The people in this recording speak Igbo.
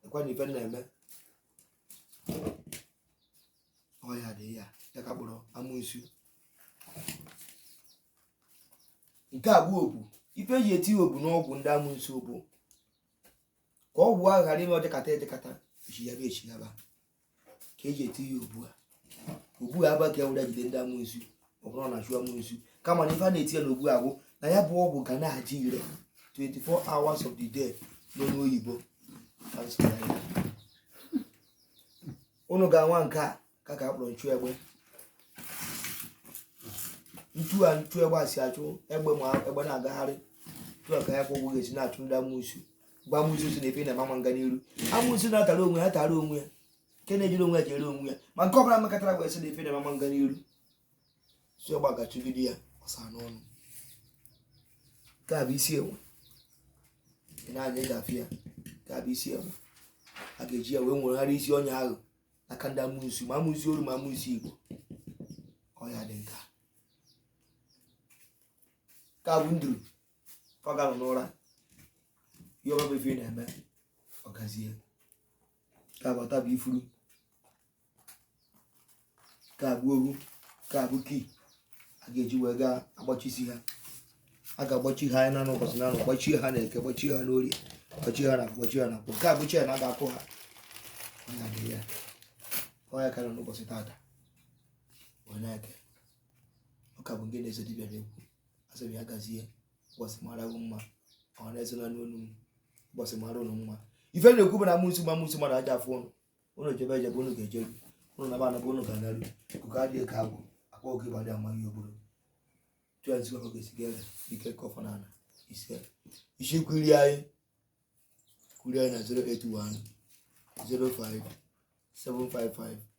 lekwa na ife m na-eme ọya dị ya ya ka a kpọrọ amụnsu nke a bụ obu ife eji eti obu n'ọgwụ ndị amụnsu bụ ka ọgwụ ahụ ghara ime ọ dịkata adịkata echighaba echighaba ka eji eti ya obu a obu a abụghị ka e were jide ndị amụnsu ọ bụrọ na achụ amụnsu kama na ife a na-eti ya n'ọgwụ a bụ na ya bụ ọgwụ ga na-adị ire 24 hours of the day n'onu oyibo. unu ga-anwa nke a ka ka akpọrọ nchụ egbe etu a nchụ egbe a si achụ egbe ma egbe na-agagharị etu a ka ya kwa ọgwụ ga-esi na-achụ ndị amụnsu ma amụnsu sị na ife ị na-eme ama nga n'iru amụnsu na-atara onwe ya tara onwe ya nke na-ejere onwe ya jere onwe ya ma nke ọbụla mekọtara wee sị na ife ị na-eme ama nga n'iru si ọgwụ a ga-achụgide ya ọsọ n'ọnụ nke a bụ isi enwe i nee anya ị ga-afụ ya nke a bụ isi enwe a ga-eji ya wee nwegharị isi onye ahụ n'aka ndị amụnsu ma amụnsu oru ma amụnsu igbo ọ ya dị nka nke a bụ nduru ka ọ ga-anọ n'ụra ihe ọbụla bụ ife ị na-eme ọ gazie nke a bụ ọta bụ ifuru nke a bụ ohu nke a bụ key a ga-eji wee gaa agbachisi ha a ga-agbachi ha anya n'ụbọchị naanọ gbachie ha na eke gbachie ha n'orie gbachie ha na gbachie ha na nkwọ nke a bụ chain a ga-akụ ha ọ ya dị ya ọ ya ka anyị nọ n'ụbọchị tata onye eke ọ ka bụ nke na-eso dibịa na-ekwu asị m ya gazie ụbọchị mara gị mma ọ na-ezola n'olu m ụbọchị mara ụnụ mma ife m na-ekwu bụ na amụnsu ma amụnsu ama aja afụ ụnụ ụnụ jebe ejebe ụnụ ga-ejeru ụnụ naba anaba ụnụ ga-anaru ikuku adịghị ka agwụ akwa oge ịbadị amaghị obodo tụọ nzukọ ka ga-esi ga-ere ike kọfọ na ala ise isi kwuri anyị kwuri anyị na 081 05 755